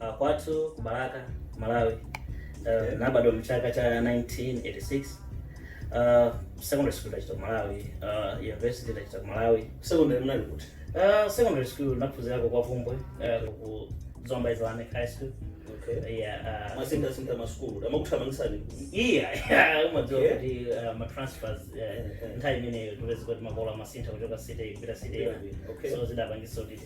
Uh, kwathu ku Balaka, Malawi. Uh, nabadwa mchaka cha 1986. Uh, secondary school ndachita ku Malawi, uh, university ndachita ku Malawi. Secondary mnali kuti? Uh, secondary school naphunzirako ku Bvumbwe, uh, ku Zomba Islamic High School. Okay. Yeah, uh, ndimasinthasintha masukulu. Amakuthamangisani. yeah, yeah, mumadziwa Yeah. kuti uh, ma transfers uh, yeah. nthawi imeneyo kupezeka kuti makolo amasintha kuchoka city kupita city ina. Okay. So zidapangisa kuti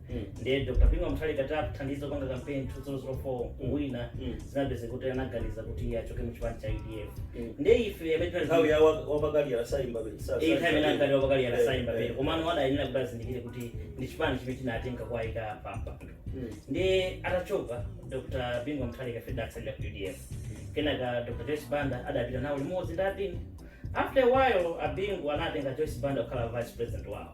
Mm. ndiye dr bingu mutharika titathandiza kupanga kampeni 2004 kuwina Mm. zinapezeka kuti anaganiza kuti iye achoke mu chipani cha udf Mm. ndiye ife amene tinali- nthawi ya wa- wapakali yasaimba iyi nthawi imene ankati wapakali yakasaimba pene komano adayenera kuti azindikire kuti ndi chipani chimene chinatenga kuwayika pampando ndiye atachoka dr bingu mutharika ife tidatsalira ku udf kenaka dr joyce banda adapita nawo limodzi ndi abingu after a while abingu anatenga joyce banda kukhala vice president wawo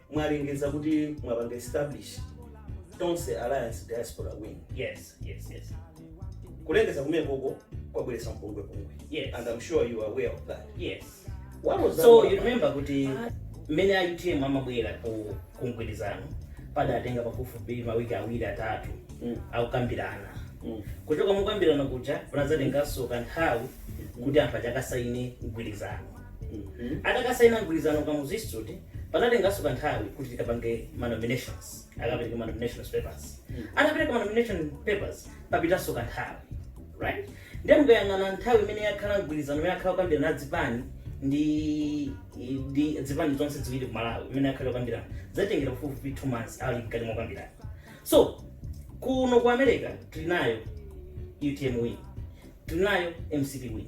mwalengeza kuti mwapanga establish tonse alliance diaspora wing yes yes yes kulengeza kumekoko kwabweretsa mpungwepungwe Yes. and i'm sure you are aware of that yes What was that so all you about? remember kuti mmene a utm amabwera ku ku mgwirizano padatenga pafupifupi mawiki awiri atatu Mm. akukambirana Mm. kuchoka mukukambirana kuja kunadzatenganso kanthawi kuti anthu akasayine mgwirizano Mhm. atakasaina mgwirizano pa kamuzu institute panatenganso kanthawi kuti tikapange manominations akapereka manominations papers atapereka manomination papers papitanso kanthawi right ndiye mukayang'ana nthawi imene yakhala mgwirizano imene akhala kukambirana adzipani ndi ndi dzipani zonse ziwiri ku malawi imene akhala kukambirana zatengera pafupifupi two months ali mkati mokambirana so kuno ku america tili nayo utm wing tili nayo mcp wing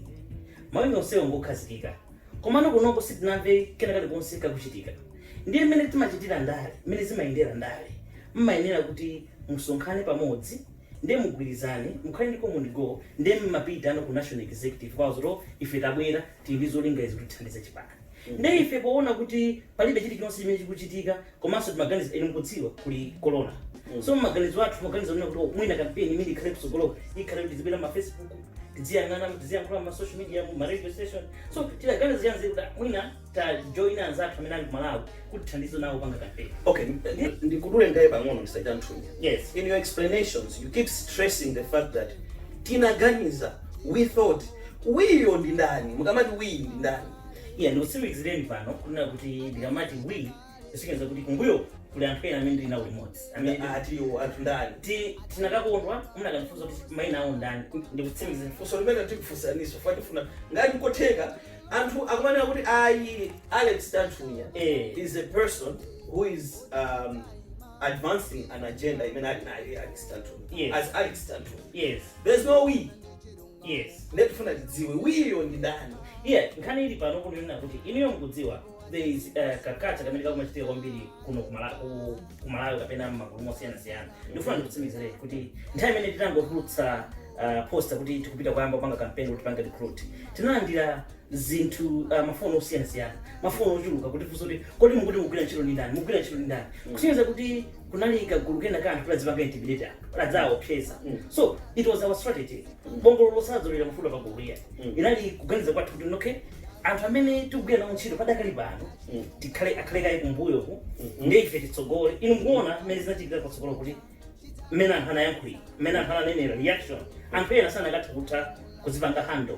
mawing onsewo ngokhazikika komano kunoko sitinamve kena kalikonse kakuchitika ndiye mmene timachitira ndale mmene zimayendera ndale mmayenera kuti musonkhane pamodzi ndiye mugwirizane mukhale ndi common goal ndiye mmapitano ku national executive kuwauza zoti ife tabwera tili ndi zolinga izi kuti tithandize chipani ndiye ife poona kuti palibe chilichonse chimene chikuchitika komanso timaganiza inu mukudziwa kuli corona so maganizo athu maganizo amene kuti mwina kampeni imene ikhale kutsogolo ikhale kuti tizibwera ma facebook tiziyang'ana tiziyankhula ma social media ma radio station so tidaganiza zoyamba kuti mwina tajoina anzathu amene ali ku malawi kuti tithandize nawo kupanga kampeni okay ndi- ndikuduleni kaye pang'ono mr chanthunya yes in your explanations you keep stressing the fact that tinaganiza we thought we yo ndi ndani mukamati we ndi ndani iya ndikutsimikizireni pano kunena kuti ndikamati we kusonyeza kuti kumbuyo kuli anthu ena amene ndili nawo limodzi amene ndi- atiwo anthu ndani tinakakondwa munakandifunsa kuti maina awo ndani ndikutsimikizira funso limene tikufunsani ife tifuna ngati nkotheka anthu akumanena kuti ayi alex tanthunya Eh. is a person who is um, advancing an agenda imene ali nayo alex tanthunya Yes. as alex tanthunya yes there's no we yes ndiye tifuna tidziwe we-yo ndi ndani yeah nkhani ili pano kunena kuti inuyo mukudziwa there is uh, culture kamene kakumachitika kwambiri kuno kumala- ku- kumalawi kapena mmagulu osiyanasiyana ndikufuna ndikutsimikizireni kuti nthawi imene tinangotulutsa uh, posta kuti tikupita kuyamba kupanga kampeni kuti tipange recruit tinalandira zinthu uh, mafoni osiyanasiyana mafoni ochuluka kuti funso kuti kodi mukuti mugwira ntchito ndi ndani mugwira ntchito ndi ndani kusonyeza kuti kunali kagulu kena ka anthu koti kazipanga intimidate anthu kuti aziwaopseza so it was our strategy bongolo silidzolera mafuta pa gulu iya inali kuganiza kwathu kuti okay anthu amene tikugwira nawo ntchito padakali pano tikhale akhale kaye kumbuyo ku ndiye ife titsogole inu mukuona mmene zinachitika patsogolo kuti mmene anthu anayankhulira mmene anthu ananenera reaction anthu ena sanakatha kutha kuzipanga handle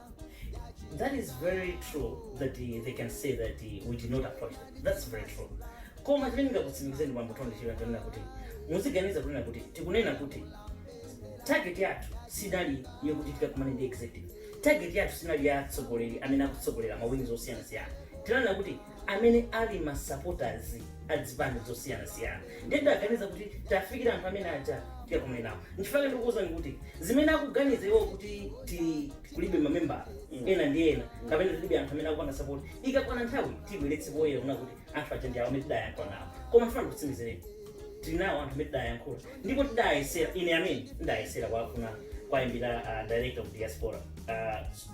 that is very true that uh, they can say that uh, we did not approach them. that's very true koma chimene ndingakutsimikizireni bambo tondi chija ndanena kuti muziganiza kunena kuti tikunena kuti target yathu sinali yokuti tikakumane ndi executive target yathu sinali ya atsogoleri amene akutsogolera ma wings osiyanasiyana tinanena kuti amene ali ma supporters a zipani zosiyanasiyana ndiye tidaganiza kuti tafikira anthu amene aja tikakumane nawo nchifukwa ndikuwuzani kuti zimene akuganiza iwo kuti tilibe mamembala ena ndi ena kapena tilibe anthu amene akupanga support ikakwana nthawi tibweretse poyera kunena kuti anthu aja ndi awo amene tidayankhula nawo koma ndifuna ndikutsimikizireni tili nawo anthu amene tidayankhula ndipo tidayesera ine amene ndidayesera kuwafuna kuwaimbira uh, director of diaspora uh,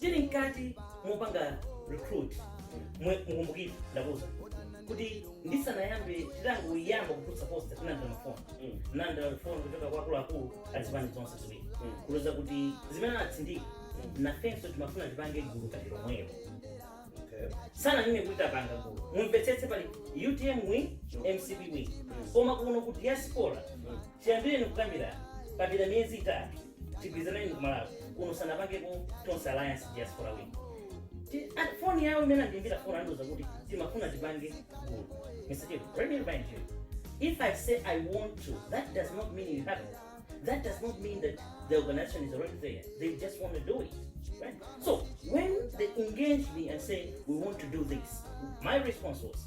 tili mkati mopanga recruit mwe- mukumbukire ndakuuzani kuti ndisanayambe titangoyamba kutulutsa posta tinalandira mafoni Mm. tinalandira mafoni kuchoka kwa akuluakulu azipani zonse ziwiri Mm. kutiuza kuti zimene anatsindika nafenso timafuna tipange gulu ngati lomwelo Okay. sitinanene kuti tapanga gulu mumvetsetse pali utm wing mcp wing koma kuno ku diaspora chiyambireni kukambirana papita miyezi itatu tigwirizaneni kumalawi kuno sanapangeko tonse alliance diaspora win Ti- ah, foni yawo imene andiimbira foni andiuza kuti timafuna tipange gulu mr chief let me remind you if i say i want to that does not mean you have it that does not mean that the organization is already there they just want to do it right so when they engage me and say we want to do this my response was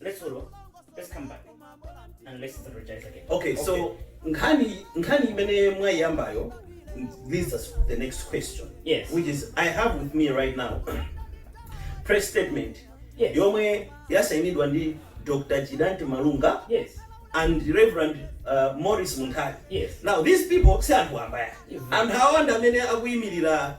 Let's hold on. Let's come back. And let's strategize again. Okay, so nkhani nkhani imene mwayiyambayo leads us to the next question. Yes. Which is I have with me right now press statement Yes. yomwe yasainidwa ndi Dr. Chidanti Malunga Yes. and Reverend uh, Morris Munthali. Yes. Now these people si anthu ambaya. Yes. Anthu awanda amene akuyimirira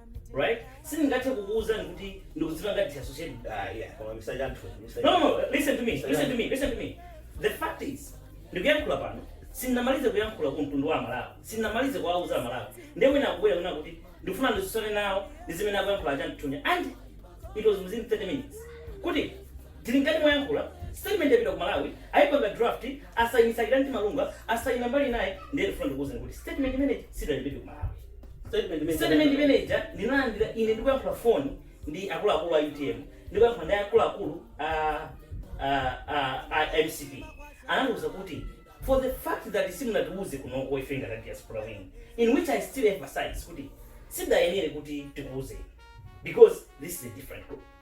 right sindingathe kukuwuzani kuti ndikuzipanga disassociate Ah, yeah, koma misanja anthu. misanja- no, no, no, listen to me, listen to me, listen to me. The fact is, ndikuyankhula pano, sindinamalize kuyankhula ku mtundu wa Amalawi, sindinamalize kuwauza Amalawi. Ndiye wina akubwera wina kuti ndifuna nditsutsane nawo ndi zimene akuyankhula a Chanthunya. And it was within 30 minutes. Kuti Tili mkati moyankhula, statement yapita ku Malawi, ayipanga draft, asayinitsa Likanti Kamlunga, asayina mbali inayi, ndiye ndifuna ndikuwuzeni kuti statement imene ija sidalembedwe ku Malawi. Statement imene ija ndinalandira ine ndikuyankhula pa phone ndi akuluakulu a utm, ndikuyankhula ndi akuluakulu a a a a mcp, anandiwuza kuti for the fact that simunatiwuze kunoko ife ngati a diaspora wing, in which I still emphasize kuti sizidayenere kuti tikuwuzeni because this is a different group.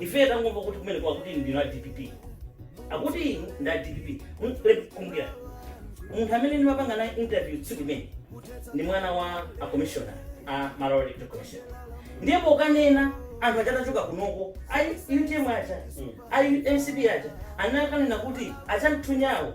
Ife tangomva kuti kumeneko akuti ndinu a DPP. Akuti inu ndi a DPP. Mm, Ndikukumbukira. Munthu amene ndimapanga naye interview tsiku limene lija ndi mwana wa a commissioner a Malawi Electoral Commission. Ndiye pokanena anthu aja atachoka kunoko, ayi UTM aja, ayi MCP aja, anakanena kuti a Chamthunyawo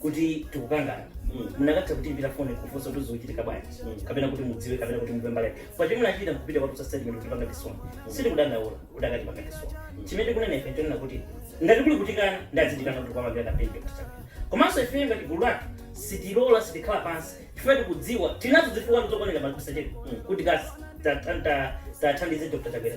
kuti tikukangana munakatha kutiimbira foni kufunsa kuti zikuchitika bwanji kapena kuti mudziwe kapena kuti mumve mbali pa chimene achita kupita kukatulutsa statement kutipanga disown sitili kudandaula kuti akutipanga disown chimene tikunena ife tikunena kuti ngati kuli kutikana adzitikana kuti kwamagera kampeni chakutsa komanso ife ngati gulu lake sitilola sitikhala pansi chifukwa tikudziwa tinazo zifukwa zokwanira pomwe tisasiye kuti kasi tathandize dr chakwera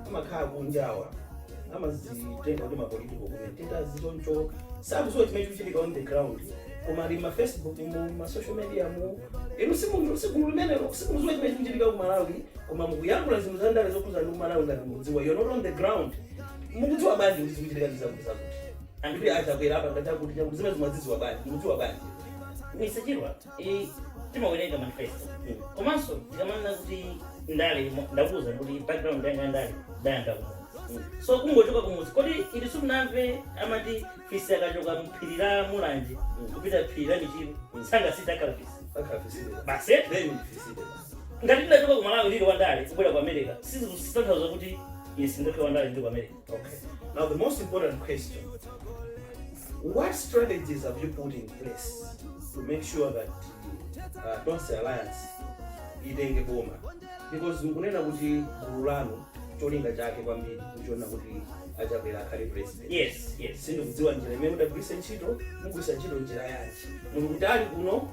amakhala kunja awa amazitenga kuti mapolitical commentators chonsecho sakuziwa chimene chikuchitika on the ground koma ali m'ma facebook mu ma social media mu inu simu- si gulu limenelo simukuziwa chimene chikuchitika ku malawi koma mukuyankhula zinthu za ndale zokhuza ndi ku malawi ngati mukudziwa you're not on the ground mukudziwa bwanji kuti zikuchitika ndi zakuti zakuti ndikuti achakwera apa ngati akuti chakuti zimene mumazidziwa bwanji mukudziwa bwanji misachirwa I- timawerenga manifesto komanso tikamanena kuti ndale mo- ndakuwuza kuti background yanga ya ndale ndayamba kumudzi so ungochoka kumudzi kodi inu simunamve amati fisi akachoka mphiri la mulanje kupita phiri la michiro sangasinthe akhala fisi akhala fisi basi eti? then ndi fisi basi ngati ndidachoka ku malawi ndili wandale kubwera ku america sizitanthauza kuti ine sindine wandale ndili ku america Okay. Now, the most important question What strategies have you put in place to make sure that uh, Tonse Alliance itenge boma? Because mukunena kuti gulu lanu cholinga chake kwambiri nkuona kuti a Chakwera akhale president. yes yes sindikudziwa njira imene mudagwiritsa ntchito mugwiritsa ntchito njira yanji muli kutali kuno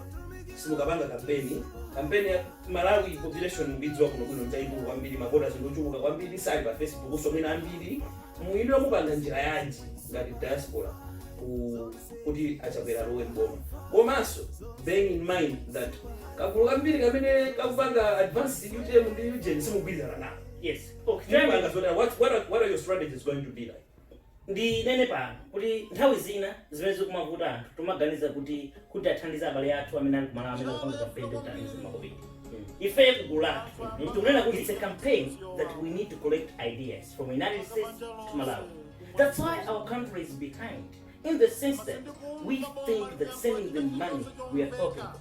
simukapanga kampeni kampeni ya- Malawi population mukuidziwa bwino bwino ndi yaikulu kwambiri mavotazi ndiochuluka kwambiri sali pa facebook so mwina ambiri mwa inuyo mupanga njira yanji ngati diaspora ku kuti achakwera alowe mboma komanso bearing in mind that kagulu kambiri kamene kakupanga advance utm ndi ujeni simugwirizana nawo yes okay Ndipo choyamba ngazotero, what, what, are, what are your strategies going to be like ndinene pano kuti nthawi zina chimene chikumavuta anthu timaganiza kuti kuti tithandize abale athu amene ali kumalawi amene akupanga kampeni kuti tiwathandize makobidi ife kugulu kwathu tikunena kuti it's a campaign that we need to collect ideas from united states to malawi that's why our country is behind in the sense that we think that sending them money we are helping them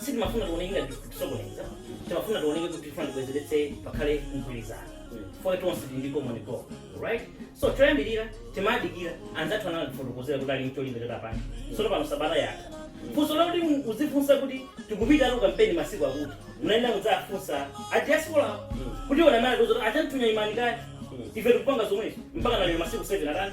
sitimafuna tioneke ngati tikusokoneza timafuna tioneke kuti tifuna tibwezeretse pakhale mgwirizano poti tonse tili ndi common goal right so choyambirira timadikira anzathu anatifotokozera kuti ali ndi cholinga choti apange sono pano sabata yatha funso loti mu- uzifunsa kuti tikupita ku kampeni masiku akuti munaenda mudzafunsa adiaspora kuti ona mara tozoti a Chanthunya imani kaya ife tikupanga zomwezo mpaka lero masiku 7 atani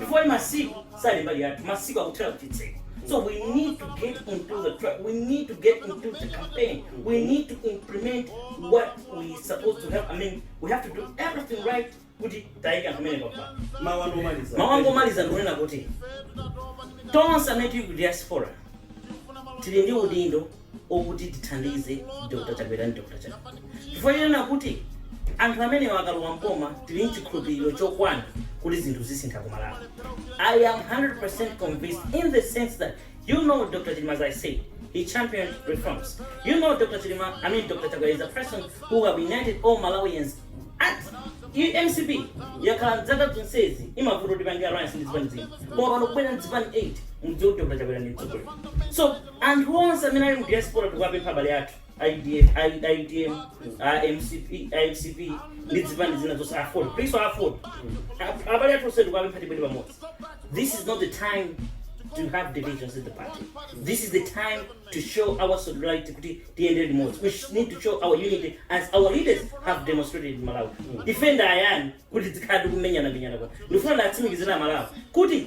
chifukwa masiku sali mbali yathu masiku akuthera kuchitseko so we need to get into the track we need to get into the campaign we need to implement what we supposed to have i mean we have to do everything right kuti tiike anthu amene apa mawu anu omaliza mawu anga omaliza ndikunena kuti tonse amene tili ku diaspora tili ndi udindo okuti tithandize Dr Chakwera ndi Dr Chilima chifukwa chonena kuti anthu amenewa akalowa m'boma tili nchikhulupiliro chokwana kuti zinthu zisintha ku Malawi. I am 100% convinced in the sense that you know Dr Chilima as I say he championed reforms. You know Dr Chilima, I mean Dr Chakwera is a person who have united all Malawians eti iyi mcp yakhala dzaka zonsezi imavuta kuti ipange alliance ndi zipani zina koma pano kubwera ndi zipani 8 mudziwe kuti dr chakwera ndi mtsogoleri so Anthu onse amene ali mu diaspora tikuwapempha abale athu a UDF, a U- a UTM, a MCP, a MCP ndi zipani zina zonse Aford. Please Aford. A- Abale athu onse tikuwapempha tibwere pamodzi. This is not the time to have divisions in the party. This is the time to show our solidarity kuti tiyendere limodzi. We sh- need to show our unity as our leaders have demonstrated in Malawi. Ife ndi ayani kuti tikhale tikumenyana menyana kuno. Ndifuna ndiwatsimikizire aMalawi kuti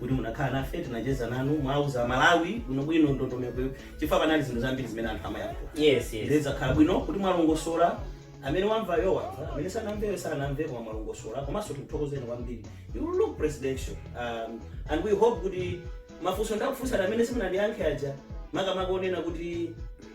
kuti munakhala nafe tinacheza nanu mwauza amalawi bwinobwino ndondomeko chifukwa panali zinthu zambiri zimene anthu amayankhula yes yes nde zakhala bwino kuti mwalongosola amene wamvayo wamva amene sanamveyo sanamve koma mwalongosola komanso tikuthokozeni kwambiri you look presidential um, and we hope kuti mafunso ndinakufunsani amene simunandiyankhe aja makamaka onena kuti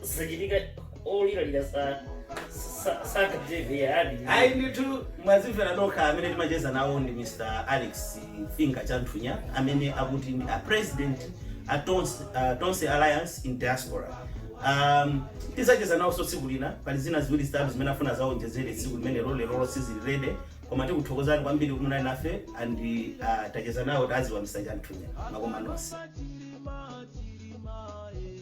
zisachitika oliralira sa- sa- sakateve ali ayi ndithu mwazimvera nokha amene timacheza nawo ndi mr alex finye chanthunya amene akuti ndi a president a tonse, a tonse alliance in diaspora um, tizacheza nawonso tsiku lina pali zina ziwiri zitatu zimene afuna azaonjezere tsiku limenelo lerolo tisilire apa koma tikuthokozani kwambiri kuti munali nafe and uh, tacheza nawo tawadziwa mr chanthunya makoma nonse